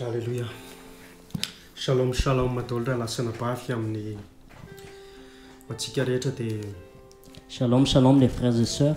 Aleloia. Shalom, shalom, daholo rahalahy sy anabavy amin'ny antsika rehetra dia Shalom, shalom les frères et sœurs.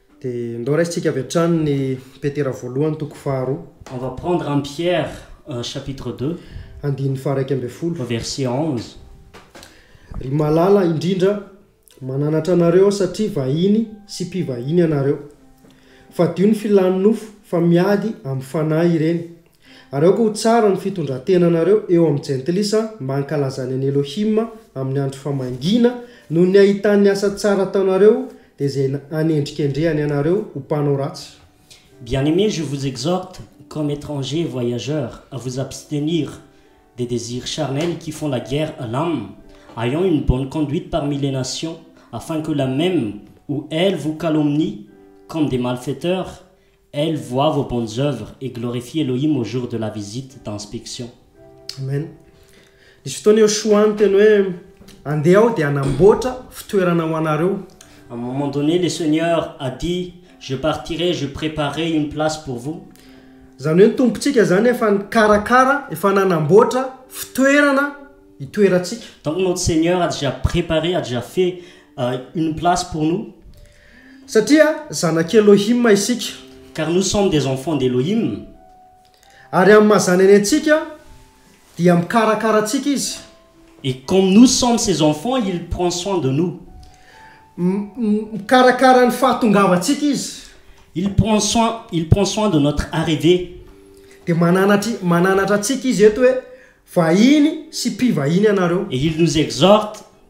Dia ndao raisintsika avy hatrany ny Petera voalohany toko faharoa. On va prendre en Pierre chapitre deux. Andininy faharaika ambin'ny folo. Verset onze. Ry malala indrindra, mananatra anareo aho satria vahiny sy mpivahiny ianareo. Fadio ny filan'ny nofo fa miady amin'ny fanahy ireny Ary aoka ho tsara ny fitondran-tenanareo eo amin'ny Jentilisa mba hankalazany an'i Elohim amin'ny andro famangiana, noho ny hahitany ny asa tsara ataonareo, dia izay hanendrikendrehany anareo ho mpanao ratsy. Bien-aimés, je vous exhorte, comme étrangers et voyageurs, à vous abstenir des désirs charnels qui font la guerre à l'âme, ayant une bonne conduite parmi les nations, afin que la même ou elles vous calomnient comme des malfaiteurs, Elles voient vos bonnes œuvres et glorifient Elohim au jour de la visite d'inspection. Amen. Nisy fotoana Yoshua niteny hoe andeha aho dia hanamboatra fitoerana ho anareo. À un moment donné, le Seigneur a dit, je partirai, je préparerai une place pour vous. Izany hoe ny Tompontsika izany efa nikarakara, efa nanamboatra fitoerana hitoerantsika. Donc notre Seigneur a déjà préparé, a déjà fait euh, une place pour nous. Satria zanak'i Elohim isika. Car nous sommes des enfants d'Elohim. Ary amin'ny maha zanany antsika, dia mikarakara antsika Izy. Et comme nous sommes ses enfants, il prend soin de nous. Mikarakara ny fahatongavantsika Izy. Il prend soin, il prend soin de notre arrivée. Dia mananatry, mananatra antsika Izy eto hoe, Vahiny sy mpivahiny ianareo. Et il nous exhorte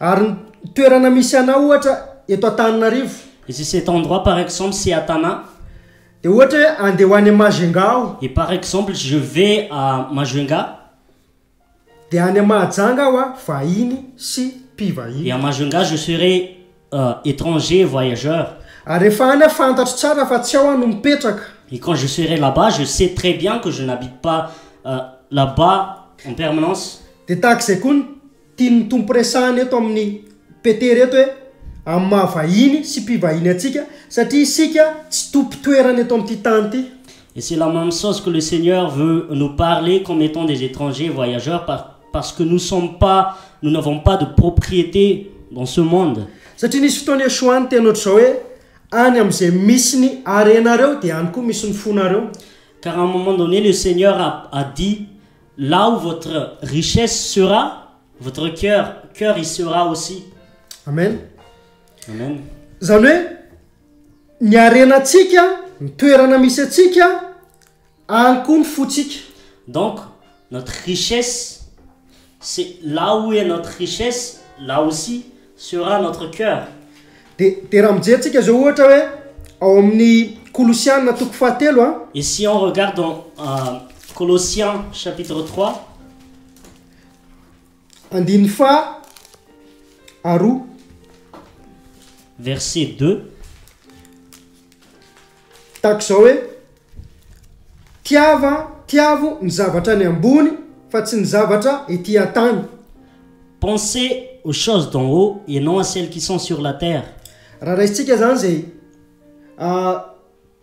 Ary ny toerana misy anao ohatra eto Antananarivo. Et si cet endroit par exemple c'est à Tana. Dia ohatra hoe andeha ho any Majunga aho. Et par exemple je vais à Majunga. Dia any Mahajanga aho an, vahiny sy mpivahiny. Et à Majunga je serai étranger, voyageur. Ary rehefa any aho fantatro tsara fa tsy ao aho no mipetraka. Et quand je serai là-bas je sais très bien que je n'habite pas là-bas en permanence. Dia tahaka izay koa ny. Tian'ny Tompo resahina eto amin'i Petera eto hoe amin'ny maha vahiny sy mpivahiny antsika, satria isika tsy tompon-toerana eto amin'ity tany ity. Et c'est la même chose que le Seigneur veut nous parler comme étant des étrangers voyageurs par parce que nous sommes pas nous n'avons pas de propriété dans ce monde. Satria nisy fotoana Yeshua niteny ohatr'izao hoe, Any amin'izay misy ny harenareo dia any koa misy ny fonareo. Car à un moment donné le Seigneur a a dit Là où votre richesse sera, votre cœur, cœur y sera aussi. Amen. Amen. Zany hoe ny harenantsika, ny toerana misy antsika, any koa ny fotsika. Donc notre richesse c'est là où est notre richesse, là aussi sera notre coeur. De de raha mijery tsika zao ohatra hoe ao amin'ny kolosiana toko fahatelo a. Et si on regarde dans euh, Colossiens chapitre 3. Andininy faha aroa. Verset 2. Tahaka izao hoe, Tiava, tiavo ny zavatra any ambony fa tsy ny zavatra ety an-tany. Pensez aux choses d'en haut et non à celles qui sont sur la terre. Raha raisintsika izany izay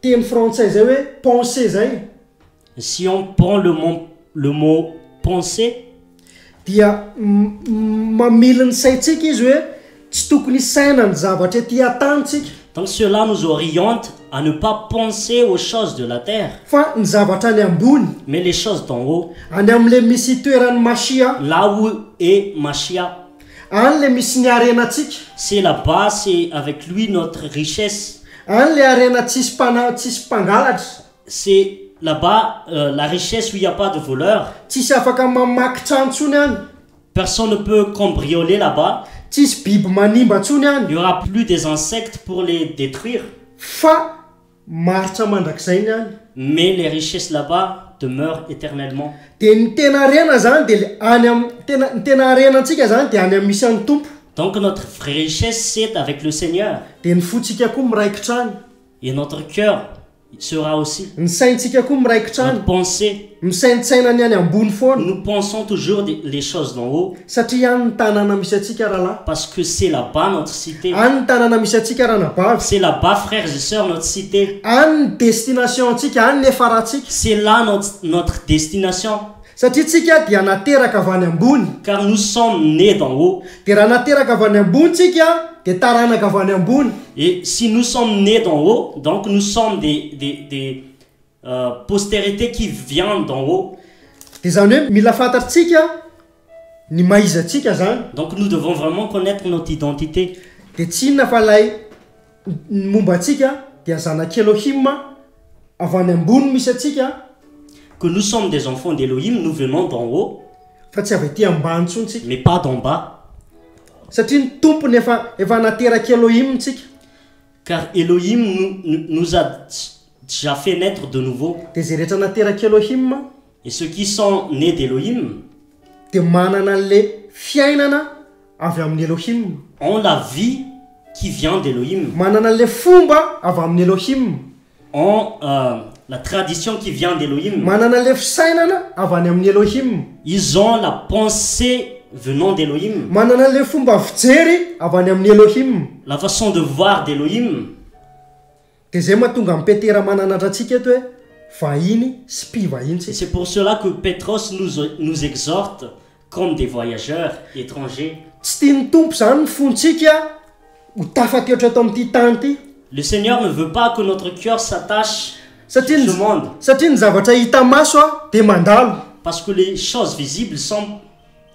teny frantsay izay hoe pensez izay Si on prend le mot le mot penser. Dia mamily ny saintsika izy hoe tsy tokony hisaina ny zavatra ety an-tanintsika. Donc cela nous oriente à ne pas penser aux choses de la terre. Fa ny zavatra any ambony. Mais les choses d'en haut. Any amin'ilay misy itoeran'ny Mashia. Là où est Mashia. Any ilay misy ny harenantsika. C'est là-bas c'est avec lui notre richesse. Any ilay harena tsisy mpana tsisy mpangalatra. C'est là bas la richesse où il n'y a pas de voleur. Tsisy afaka mamaky trano tsony any. Personne ne peut cambrioler là bas. Tsisy biby manimba tsony any. Il y aura plus des insectes pour les detruire. Fa maharitra mandrakizay ny any. Mais les richesses là bas demeurent eternellement. Dia ny tena harena zany dia le any am tena ny tena harena antsika zany dia any am misy an'i Tompo. Donc notre vraie richesse c'est avec le Seigneur. Dia ny fontsika koa miraikitra any. Et notre cœur. sera aussi. Ny saintsika koa miraikitra any. Notre pensée. Misaintsaina ny any ambony foana. Nous pensons toujours des les choses d'en haut. Satria any ny tanàna misy antsika rahalahy. Parce que c'est là bas notre cité. Any ny tanàna misy antsika ranabavy. C'est là bas frères et sœurs notre cité. Any ny destination antsika, any ny efarantsika. C'est là notre notre destination. Satria tsika dia nateraka avy any ambony. Car nous sommes nés d'en haut. Dia raha nateraka avy any ambony tsika dia taranaka avy any ambony. Et si nous sommes nés d'en haut, donc nous sommes des, des, des, euh, postérités qui viennent d'en haut. Dia izany hoe mila fantatritsika ny maha iza antsika izany. Donc nous devons vraiment connaitre notre identité. Dia tsy inona fa ilay. Ny momba antsika dia zanak'i Elohim, avy any ambony misy antsika. Que nous sommes des enfants d'Elohim, nous venons d'en haut. Fa tsy avy aty ambany intsony tsika. Mais pas d'en bas. Satria ny Tompony efa efa naterak'i Elohim tsika. Car Elohim nous nous a dja fait naître de nouveau. Dia izay rehetra naterak'i Elohim. Et ceux qui sont nés d'Elohim. Dia manana an'ilay fiainana. avy amin'ny Elohim. En la vie qui vient d'Elohim. Manana an'ilay fomba avy amin'ny Elohim. En la tradition qui vient d'Elohim. Manana an'ilay fisainana avy any amin'ny Elohim. Ils ont la pensée venant d'Elohim. Manana an'ilay fomba fijery avy any amin'ny Elohim. La façon de voir d'Elohim. Dia izay mahatonga an'i Petera mananatra antsika eto hoe vahiny sy mpivahiny tsika. C'est pour cela que Petros nous nous exhorte comme des voyageurs, étrangers. Tsy tian'ny Tompo izany ny fontsika ho tafateotra eto amin'ity tany ity. Le Seigneur ne veut pas que notre cœur s'attache sur ce monde. Satria ny zavatra hita maso dia mandalo. Parce que les choses visibles semblent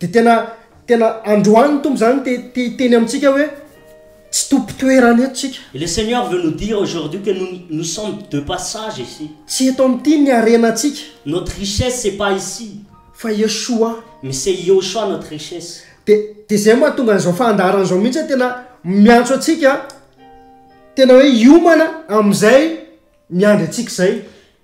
Dia tena tena androany ny Tompo izany te te hiteny amintsika hoe tsy tompon-toerana eto tsika. Et le Seigneur veut nous dire aujourd'hui que nous nous sommes de passage ici. Tsy eto amin'ity ny harenantsika. Notre richesse c'est pas ici. Fa i Yeshua. Mais c'est Yehoshua notre richesse. Dia dia izay no mahatonga an'izao fandaharana izao mihitsy hoe tena miantso antsika tena hoe hiomana amin'izay miandry antsika izay.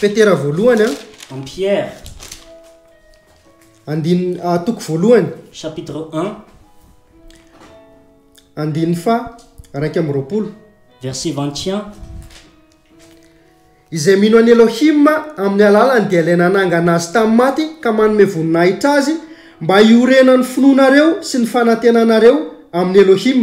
Petera voalohany an. Am Pierre. Andin ah toko voalohany. Chapitre un. Andininy faha raika amby roapolo. Verset vingt et un. Izay mino an'i Elohim amin'ny alalany dia ilay nanangana azy tamin'ny maty ka manome voninahitra azy mba hiorenan'ny finoanareo sy ny fanantenanareo amin'i Elohim.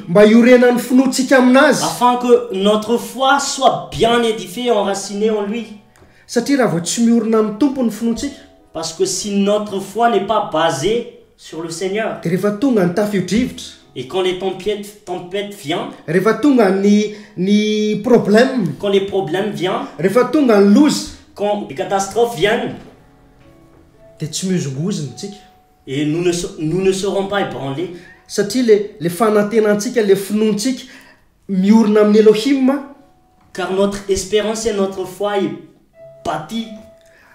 Mba hiorenan'ny finoantsika amin'Azy. Afin que notre foi soit bien édifiée, enracinée en Lui. Satria raha vao tsy miorina amin'ny Tompo ny finoantsika. Parce que si notre foi n'est pas basée sur le Seigneur. Dia rehefa tonga ny tafio-drivotra. Et quand les tempiettes, tempêtes vient. Rehefa tonga ny, ny problème. Quand les problèmes vient. Rehefa tonga ny loza. Quand les catastrophes viennent. Dia tsy mihozongozona isika. Et nous ne nous ne serons pas ébranlés. Satria le le fanantenantsika, le finoantsika miorina amin'ny Elohim a. Car notre espérance et notre foi est bâtie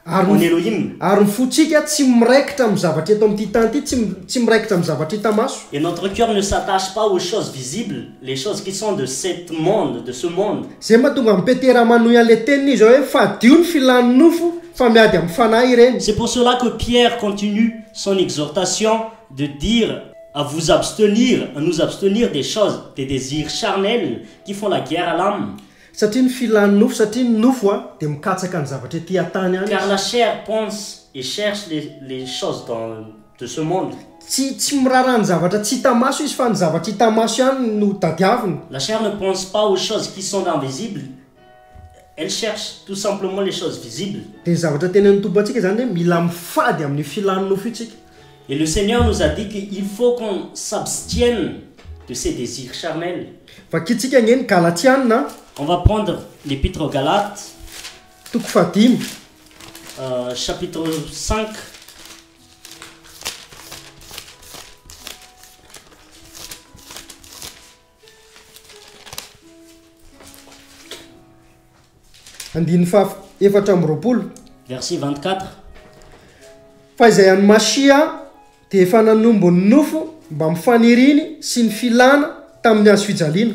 Ary en ny Elohim. ary ny fontsika tsy miraikitra amin'ny zavatra eto amin'ity tany ity, tsy tsy miraikitra amin'ny zavatra hita maso. Et notre cœur ne s'attache pas aux choses visibles. Les choses qui sont de cet monde, de ce monde. Zay mahatonga an'i Petera manohy an'ilay tenin'izy izao hoe, Fadio ny filan'ny nofo, fa miady amin'ny fanahy ireny. C'est pour cela que Pierre continue son exhortation de dire à vous abstenir, à nous abstenir des choses, des désirs charnels qui font la guerre à l'âme. Satria ny filan'ny nofo, satria ny nofo dia mikatsaka ny zavatra ety an-tany ihany Car izy. la chair pense et cherche les, les choses dans, de ce monde. Tsy tsy miraharaha ny zavatra tsy hita maso izy fa ny zavatra hita maso ihany no tadiaviny. La chair ne pense pas aux choses qui sont invisibles, elle cherche tout simplement les choses visibles. Dia ny zavatra tenenin'ny Tompo antsika izany dia hoe mila mifady amin'io filan'ny nofo io tsika. Et le Seigneur nous a dit que il faut qu'on s'abstienne de ces désirs charnels. Vakintsika ange ny Galatiana a. On va prendre l'Épître aux Galates. Toko fahadimy. Chapitre cinq. Andininy faha efatra amby roapolo. Verset 24. Fa izay an'i Mashia dia efa nanombo ny nofo mbamin'ny faniriany sy ny filana tamin'ny hazo fijaliana.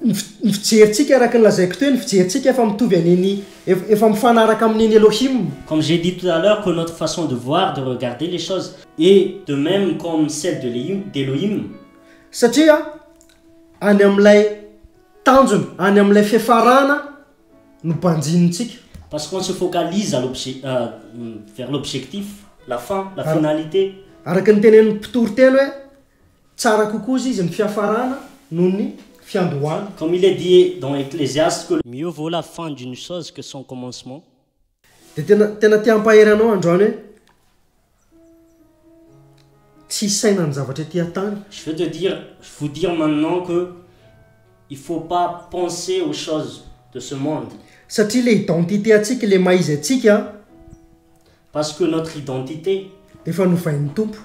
ny ny fijerintsika araka ny lazaiko teo ny fijerintsika efa mitovy an'iny efa mifanaraka amin'iny Elohim. Comme j'ai dit tout à l'heure que notre façon de voir, de regarder les choses est de même comme celle de l'Ehim, d'Elohim. Satria any amin'ilay tanjona, any amin'ilay fiafarana no banjinintsika. Parce qu'on se focalise à l'obje, vers l'objectif, la fin, la finalité. Araka ny tenenin'ny mpitoriteny hoe Tsara kokoa izy ny fiafarana noho ny fiandohana. Comme il est dit dans Ecclésiaste que. Mieux vaut la fin d'une chose que son commencement. Dia tena tena te hampahery anao androany hoe tsy hisaina ny zavatra ety an-tany. Je veux te dire, je vous dire maintenant que il faut pas penser aux choses de ce monde. Satria ilay identité antsika, ilay maha izy antsika, Parce que notre identité. Efa novain'ny Tompo.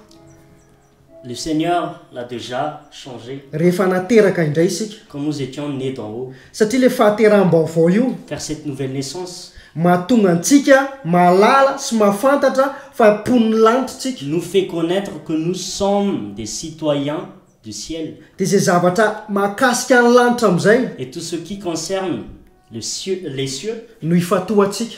Le Seigneur l'a déjà changé. Rehefa nateraka indray isika. Quand nous étions nés d'en haut. Satria ilay fahateraham-baovao io. Car cette nouvelle naissance. Mahatonga antsika mahalala sy mahafantatra fa mponin'ny lanitra isika. Nous fait connaitre que nous sommes des citoyens du ciel. Dia izay zavatra mahakasika ny lanitra amin'izay. Et tout ce qui concerne le cieux, les cieux. No ifantohantsika.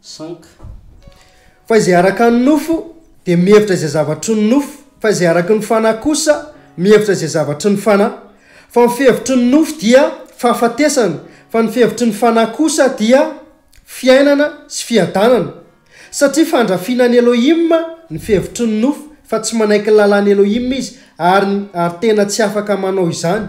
Sanka. Fa izay araka ny nofo dia mihevitra izay zavatry ny nofo, fa izay araka ny Fanahy kosa mihevitra izay zavatry ny Fanahy. Fa ny fihevitry ny nofo dia fahafatesana, fa ny fihevitry ny Fanahy kosa dia fiainana sy fiadanana. Satria fandrafiana an'i Elohim ny fihevitry ny nofo, fa tsy manaiky ny lalàn'i Elohim izy, ary, ary tena tsy afaka manao izany.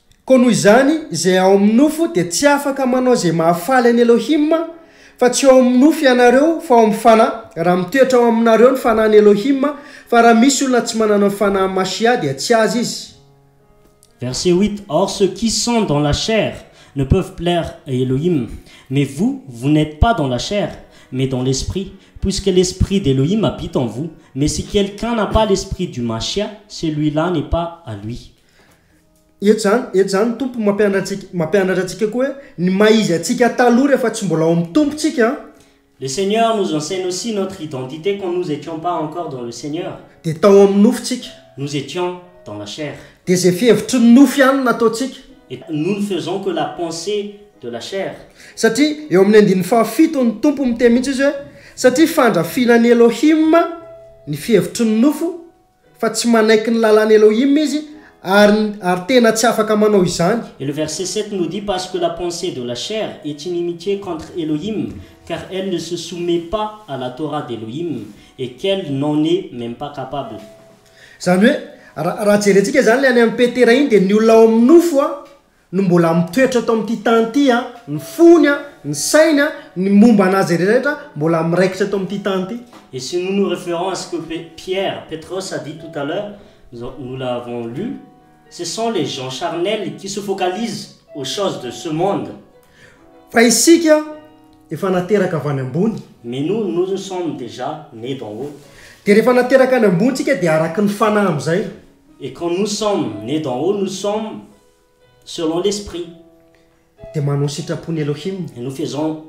Koa noho izany, izay ao amin'ny nofo dia tsy afaka manao izay mahafaly an'i Elohim, fa tsy ao amin'ny nofo ianareo, fa ao amin'ny Fanahy, raha mitoetra ao aminareo ny Fanahin'i Elohim, fa raha misy olona tsy manana ny Fanahin'i Mashiah dia tsy azy izy. Verset huit, Or ceux qui sont dans la chair ne peuvent plaire à Elohim, mais vous, vous n'êtes pas dans la chair, mais dans l'Esprit, puisque l'Esprit d'Elohim habite en vous, mais si quelqu'un n'a pas l'Esprit du Mashiah, celui-là n'est pas à lui. Eto zany, eto zany ny Tompo mampianatra antsika, mampianatra antsika koa hoe ny maha izy antsika taloha rehefa tsy mbola ao amin'ny Tompo tsika an, Le Seigneur nous enseigne aussi notre identité quand nous étions pas encore dans le Seigneur, dia tao amin'ny nofo tsika, nous étions dans la chair, dia izay fihevitry ny nofo ihany no nataontsika, et nous ne faisons que la pensée de la chair, satria eo amin'ny andininy fahafito ny Tompo miteny mihitsy izy hoe, satria fandrafiana an'i Elohim ny fihevitry ny nofo, Fa tsy manaiky ny lalàn'i Elohim izy, ary, ary tena tsy afaka manao izany. Et le verset sept nous dit, Parce que la pensée de la chair est inimitié contre Elohim, car elle ne se soumet pas à la Torah d'Elohim, et qu'elle n'en est même pas capable. Izany hoe, raha, raha jerentsika izany ilay any amin'i Petera iny, dia ny olona ao amin'ny nofo, no mbola mitoetra eto amin'ity tany ity, ny fony, ny sainy, ny momba an'azy rehetra mbola miraikitra eto amin'ity tany ity. Et si nous nous référons à ce que Pierre, Petros, a dit tout à l'heure, nous l'avons lu, ce sont les gens charnels qui se focalisent aux choses de ce monde. Fa isika efa nateraka avy any ambony. Mais nous, nous sommes déjà nés d'en haut. Dia rehefa nateraka any ambony isika dia araka ny fanahy amin'izay. Et quand nous sommes nés d'en haut, nous sommes selon l'esprit Dia manao sitrapon'i Elohim. Et nous faisons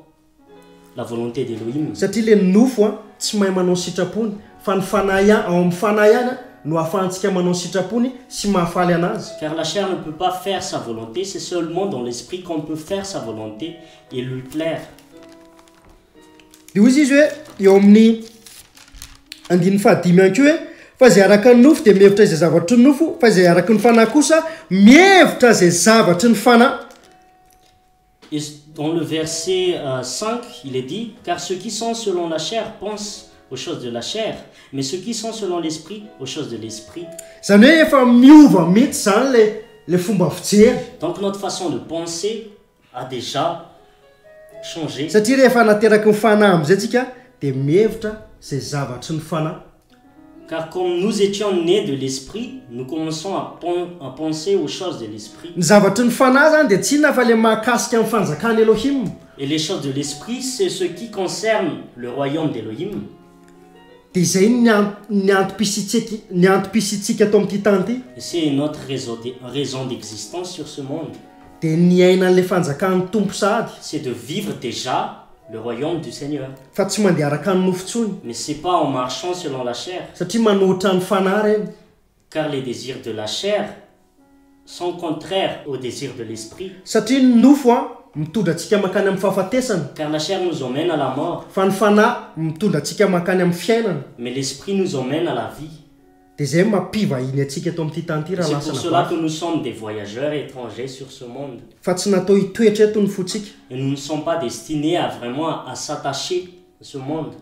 la volonté d'Elohim. Satria le nofo an tsy mahay manao sitrapony fa ny fanahy ian ao amin'ny fanahy ihany an no ahafahantsika manao sitrapony sy mahafaly anazy. Car la chair ne peut pas faire sa volonté, c'est seulement dans l'esprit qu'on peut faire sa volonté et lui plaire. Dia hoy izy izy hoe eo amin'ny andininy fahadimy ihany koa hoe fa izay araka ny nofo dia mihevitra izay zavatry ny nofo fa izay araka ny fanahy kosa mihevitra izay zavatry ny fanahy. Et dans le verset 5, euh, il est dit Car ceux qui sont selon la chair pensent aux choses de la chair, mais ceux qui sont selon l'esprit aux choses de l'esprit. Zany hoe efa miova mihitsy zany le le fomba fijery. Donc notre façon de penser a dejà changer. Satria rehefa nateraky ny fanahy amzay tsika de mihevitra zay zavatry ny fanahy. Car comme nous étions nés de l'esprit, nous commençons à à penser aux choses de l'esprit. Ny zavatry ny fanahy zany de tsy inona fa le mahakasika ny fanjakan'i Elohim. Et les choses de l'esprit c'est ce qui concerne le royaume d'Elohim. Dia izay ny ny antom-pisiantsika ny antom-pisiantsika ato amin'ity tany ity. Et c'est notre raison de raison d'existence sur ce monde. Dia ny hiaina an'ilay fanjakan'ny Tompo sahady. C'est de vivre déjà le royaume du Seigneur. Fa tsy mandeha araka ny nofo intsony. Mais c'est pas en marchant selon la chair. Satria manohitra ny fanahy ireny. Car les désirs de la chair sont contraires aux désirs de l'esprit. Satria ny nofo mitondra antsika mankany amin'ny fahafatesana. Car la chair nous emmène à la mort. Fa ny fanahy mitondra antsika mankany amin'ny fiainana. Mais l'esprit nous emmène à la vie. Dia izay no mampivahiny antsika eto amin'ity tany ity raha lasana bafo. C'est pour cela que nous sommes des voyageurs étrangers sur ce monde. Fa tsy natao hitoetra eto ny fontsika. Et nous ne sommes pas destinés à vraiment à s'attacher à ce monde.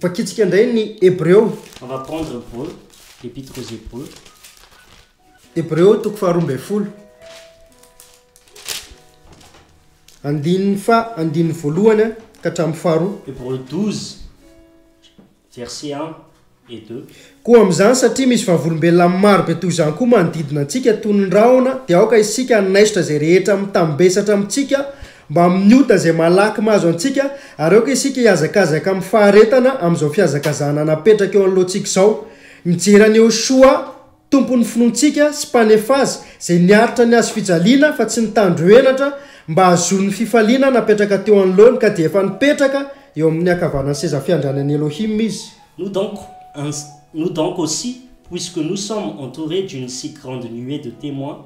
Vakitsika indray ny Hebreo. On va prendre Hebreu, l'Épître aux Hébreux. Hebreo toko faharoa ambin'ny folo. Andininy fa andininy voalohany ka hatramin'ny faharoa. Hebreu 12, verset 1 et 2. Koa amin'izany, satria misy vavolombelona maro be toy izany koa manodidina antsika toy ny rahona, dia aoka isika hanaisotra izay rehetra mitambesatra amintsika Mbamin'ny ota izay malaky mahazo antsika, ary aoka isika hihazakazaka amin'ny faharetana amin'izao fihazakazahana napetraka eo anoloantsika izao. Mijery an'i Yehoshoa, Tompon'ny finoantsika sy Mpanefa azy, izay niaritra ny hazofijaliana fa tsy nitandro henatra mba hahazoany ny fifaliana napetraka teo anoloany ka dia efa nipetraka eo amin'ny ankavanan'ny seza fiandrianan'i Elohim izy. Nous donc ainsi, nous donc aussi, puisque nous sommes entourés d'une si grande nuée de témoins,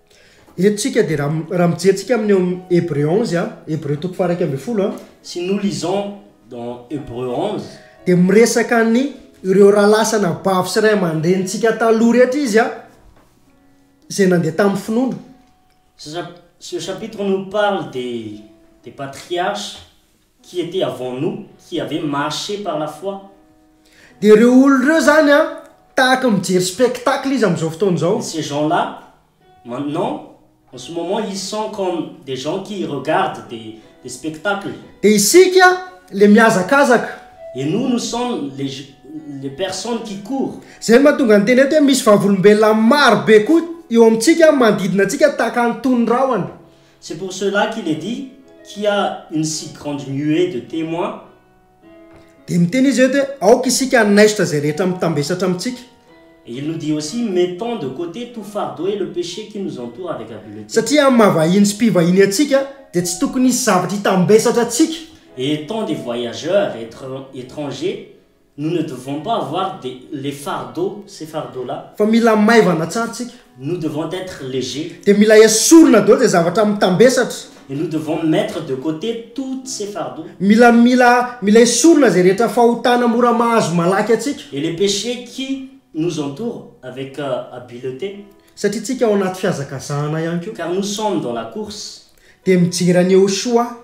Eto tsika dia raha raha mijery tsika amin'ny ao amin'ny Hébreux onze a, Hébreux toko faha-iraika ambin'ny folo a, Si nous lisons dans Hébreux onze, dia miresaka ny ireo rahalahy sy anabavy sy ray aman-drenintsika taloha rehetra izy a, izay nandeha tamin'ny finoana. Ce ce chapitre nous parle des des patriarches Qui était avant nous, qui avait marché par la foi. Dia ireo olona ireo izany an, tahaka ny mijery spectacle izy amin'izao fotoana izao. Ces gens-là, maintenant, en ce moment, ils sont comme des gens qui regardent des, des spectacles. Dia isika ilay mihazakazaka. Et nous, nous sommes les, les personnes qui courent. Izay no mahatonga ny teny eto hoe misy vavolombelona maro be koa eo amintsika, manodidina antsika tahaka ny toy ny rahona. C'est pour cela qu'il est dit qui a une si grande nuée de témoins, Dia miteny izy eto hoe, Aoka isika hanaisotra izay rehetra mitambesatra amintsika. Et il nous dit aussi, mettons de côté tout fardeau et le péché qui nous entoure avec habileté. Satria amin'ny maha-vahiny sy mpivahiny antsika, dia tsy tokony hisy zavatra hitambesatra antsika. Et étant des voyageurs et étrangers, Nous ne devons pas avoir des les fardeaux, ces fardeaux là. Fa mila maivana tsara tsika. Nous devons être léger. Dia mila esorina daholo izay zavatra mitambesatra. Et nous devons mettre de côté toutes ces fardeaux. Mila mila mila esorina izay rehetra fahotana mora mahazo malaky antsika. Et les péchés qui nous entourent avec habileté. Satria tsika ao anaty fihazakazahana ihany koa. Car nous sommes dans la course. Dia mijery an'i Yehoshuah.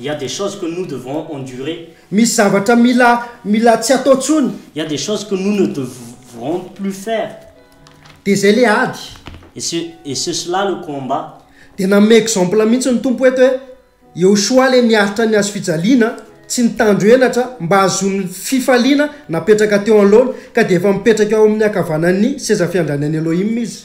Il y a des choses que nous devons endurer. Misy zavatra mila mila tsy atao tsony. Il y a des choses que nous ne devrons plus faire. Dia zay le ady. Et ce et ce cela le combat. Dia nanome exemple mihitsy ny Tompo eto hoe Iehosoa le niaritra ny hazofijaliana tsy nitandro henatra mba hahazoany fifaliana napetraka teo anoloany ka dia efa mipetraka eo amin'ny ankavanan'ny sezafiandranan'i Elohim izy.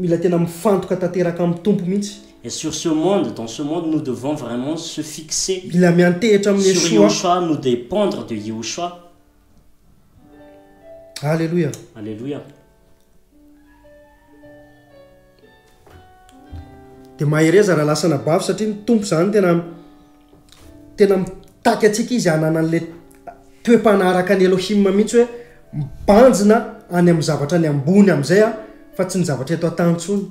Mila tena mifantoka tanteraka amin'ny Tompo mihitsy. Et sur ce monde, dans ce monde nous devons vraiment se fixer Mila miantehitra amin'i sur Yeshua. Yehoshua, nous dépendre de Yehoshua. Alléluia. Alléluia. Dia mahereza raha lasa anabavy satria ny Tompo izany tena Tena mitaky antsika izy hanana an'ilay toe-panaraka an'i Elohim mihitsy hoe mibanjina any amin'ny zavatra any ambony amin'izay aho fa tsy ny zavatra eto an-tany intsony.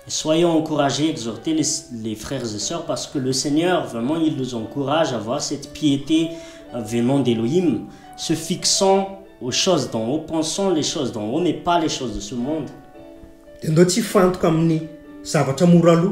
Soyons encouragés exhorter les les frères et sœurs parce que le Seigneur vraiment il nous encourage à voir cette piété venant d'Elohim se fixant aux choses d'en haut pensant les choses d'en haut mais pas les choses de ce monde. Dia ndao tsy hifantoka amin'ny zavatra mora lo.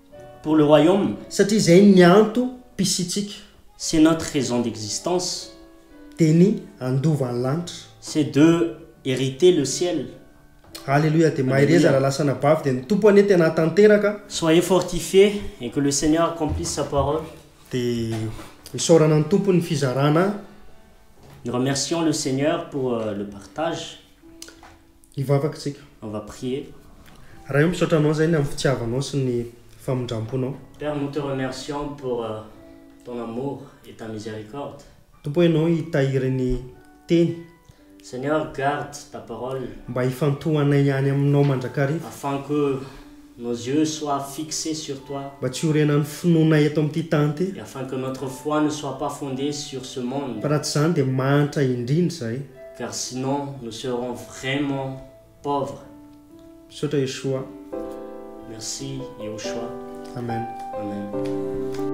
Pour le royaume. Satria izay ny antom-pisiantsika. C'est notre raison d'existence. Dia ny handova ny lanitra. C'est de hériter le ciel. Alléluia dia mahereza raha lasa anabavy dia ny Tompo anie tena hatanteraka. Soyez fortifiés et que le Seigneur accomplisse sa parole. Dia isaorana ny Tompo ny fizarana. Nous remercions le Seigneur pour le partage. Hivavaka isika. On va prier. Ray ô misaotra anao zainy amin'ny fitiavanao sy ny famindramponao. Père nous te remercions pour ton amour et ta miséricorde. Tompo ianao hitahiry ny teny. Seigneur garde ta parole. Mba hifantohanay ihany aminao mandrakariva. Afin que. Nos yeux soient fixes sur toi. Mba tsy horenan'ny finoana eto amin'ity tany ity. Et afin que notre foi ne soit pas fondée sur ce monde. Fa raha tsy izany dia mahantra indrindra izahay. Car sinon nous serons vraiment pauvres. Misaotra Yeshua. Merci Yehoshua. Amen. Amen.